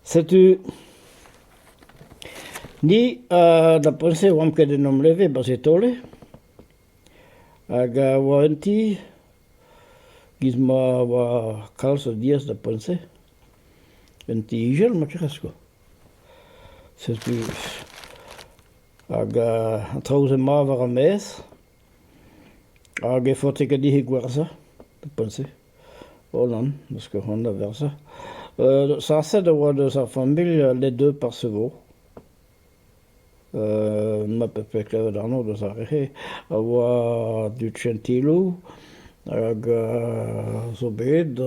Setu ni da poent-se e oamp ket en hom leve 'ba Setole hag a oa un ti giz ma oa kalz o diaz da poent-se, un ti ijal ma tec'has kwa. Setu hag an traoù-se mat war ar maez. Hag e faote ket dit gwerzhañ e-pad-se holan parce que c'hoant da verzhañ. sañset e oa deus ar familh les deux par ce vo. ma pefe klevet anv deus ar re-se a oa du Gentilou hag zo bet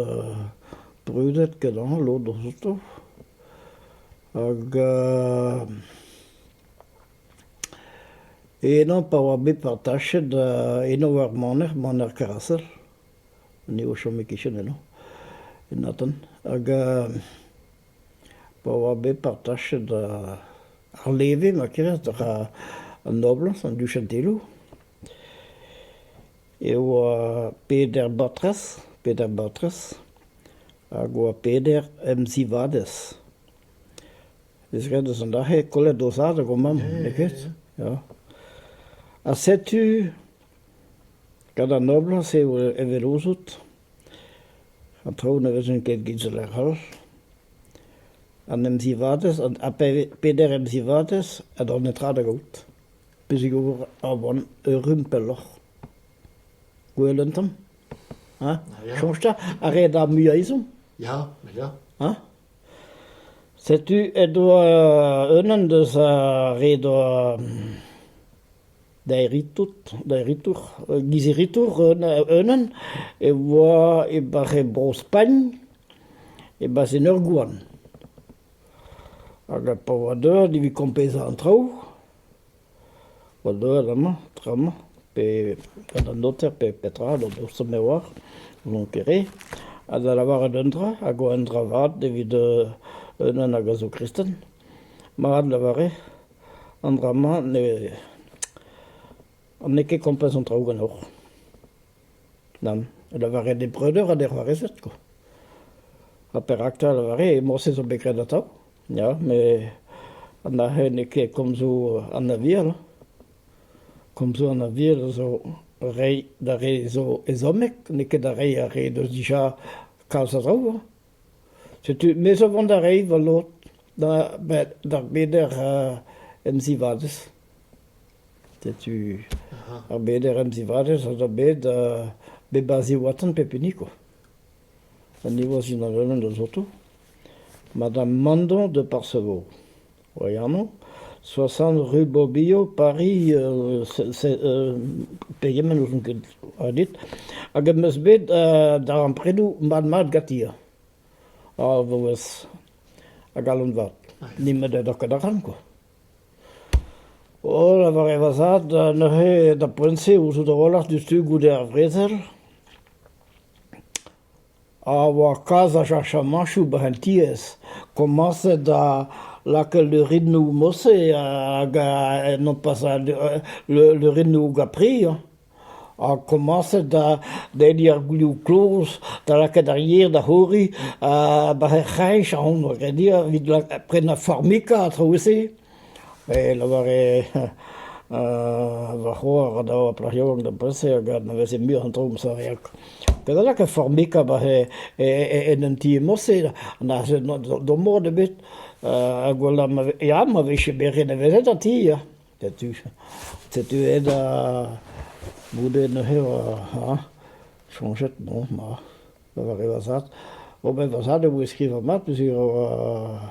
brudet kenañ lod outo hag Henañ pa oa bet partachet eno war maner, maner Karasel, ni o chome e-kichen eno, en Aten, hag pa oa bet partachet ar leve ma kiras dra an noblañs, an duchentelloù, e oa peder batrez, peder batrez, hag oa peder emzivadez. ez eus eus an dra-se kollet o zad hag o mamm, n'eo ket ? Ya. Ha setu, gant an noblañs eo evel ouzout, an traoù ne vezont ket git zo lec'hel. An emzivadez, ha peder emzivadez a dro netra da gaout. Pezhig ober a oan erru pelloc'h. Gwell un tamm, ha ? Soñj 'ta, a rez da muiañ ezhomm ? Ya, ya. Ha ? Setu edo unan deus ar re 'doa daeritour daeritour giziritour unan e oa e barr bro Spagn e-barzh en ur gouarn hag pa oa deuet evit kompezañ an traoù An heul amañ, tra-mañ, pe gant an noter pe petra, an dour-se me oar, n'on ket re, ha da lavaret un dra hag oa un dra vat evit unan hag a zo kristen. Mat lavaret, an dra-mañ n'eo ket kompas an traoù ganeoc'h. Nann, lavaret eo breudeur ha d'e c'hoarezed koa. Ha perak 'ta lavaret e morse zo bet graet atav? Ya, met an aze n'eo ket komzoù an aviel. Komzoù an aviel zo reiñ d'ar re zo ezhommek, n'eo ket reiñ ar re deus dija kalz a draoù. Setu, me zo vont da reiñ va lod d'ar beder emzivadez. Setu ar beder emzivadez a zo bet bet 'ba Ziwatan pep hini koa. Ha nevoaz unan-eured zo 'to. Madame Mandon de Parseveau. oa amañ, soixante rue Borbillot, Paris, pegement ouzon ket ha dit, hag am eus bet darempredoù mat-mat ganti ha ar vaouez a galon vat, nemet ne ra ket arc'hant kwa. O lavaret va zad neuze da poent-se ouzout a-walc'h diouzhtu goude ar vrezel. a oa kalz a cheñchamañchoù brentiezh komañset da lakaat leurennoù mod-se hag nopas leurennoù gapri hañ ha komañset da denniñ ar gwioù kloz da lakaat ar yer da c'horiñ ha war he c'hreñch ahont, a-grenn-hier, evit prenañ formica a-traoù-se. E lavare va c'hoar da oa plac'h yaouank d'am pal-se hag ne veze mui an traoù ma saved. Kedalak e formika ba he en un ti emañ-se d'o mod ebet ha gwella ya ma vije beret nevezet an ti ya. Setu setu aet da goude neuze ha chañjet bon ma lavare va zad. Ober va zad e voe skrivañ mat peogwir e oa...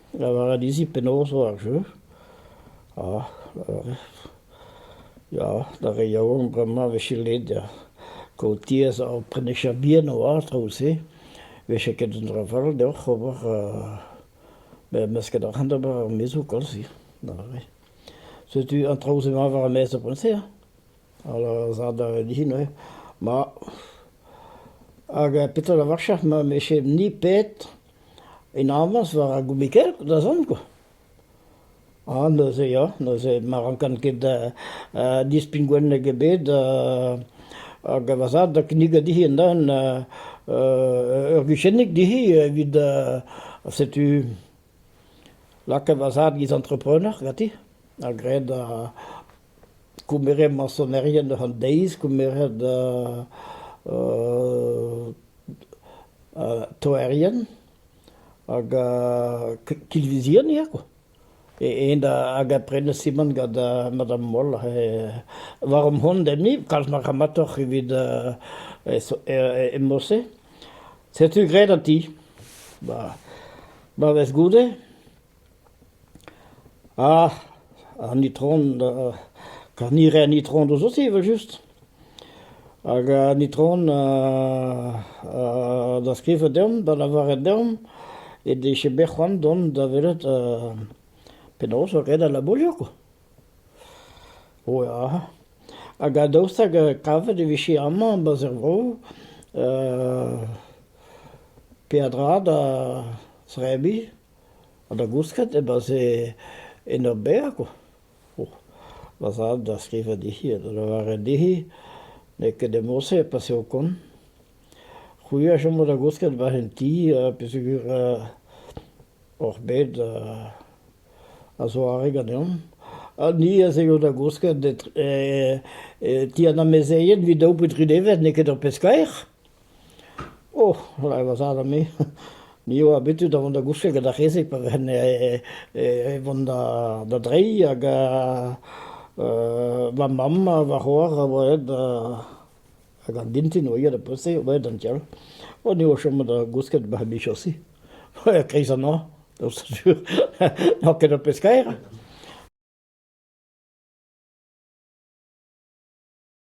Lavaret dezi penaos oa ar jeu, ha ya d'ar re yaouank bremañ a vije let da kaout tiez ha prennañ bihan oad traoù-se, 'vefe ket un dra fall deoc'h ober mesket arc'hant d'ober ar maezoù koulz-se, da vare. Setu an traoù-se mat war ar maez ar poent-se hein, hala zad a rae dezhi neuze, ma hag petra 'lavarfec'h ma 'mefe ni pet? En avañs war ar goumikell da zont kwa. A neuze ya, neuze ma rankan ket dispign gwenneg ebet hag va zad da kinnigañ dezhi un-den ur guchennig dezhi evit setu lakaet va zad giz entrepreneur ganti ha graet Koumerez mañsonerien eus an deiz, koumerez toerien hag kilvizien ya quoi. E-eñ hag a prene simant gant Madame Moll war an hont enni, kalz ma ramatoc'h evit e mod-se. Setu graet an ti. Ma vez goude. Ah, an itron Karnire an itron deus aussi evel-just, hag an itron da skrivañ deomp, da lavaret deomp he dije bet c'hoant dont da welet penaos eo ret al labourioù quoi. O ya, hag daoust hag kavet e vije amañ ba 'z er vro peadra da zebriñ. Ha da gousket e-barzh en ur berr kwa, oh va zad da skrivañ dezhi ha da lavaret dezhi n'eo ket e mod-se pas eo kont. C'hwi a chomo da gousket 'barzh un ti peogwir oc'h bet a zoare ganeomp. Ha ni ez eio da gousket e ti an amezeien 'vit daou pe dri devezh n'eo ket ur pezh kaer. Oh, lavar va zad ame, me eo abetu da vont da gousket gant ar re-se pa vehen e vont da dreiñ hag va mamm ha va c'hoar a oa aet hag an dintin a oa ivez da poultr o oa aet d'an tiez all. O ni o chom da gousket bac'h bichosi, a-kreiz an hañv, daoust ha sur n'on ket ur pezh kaer.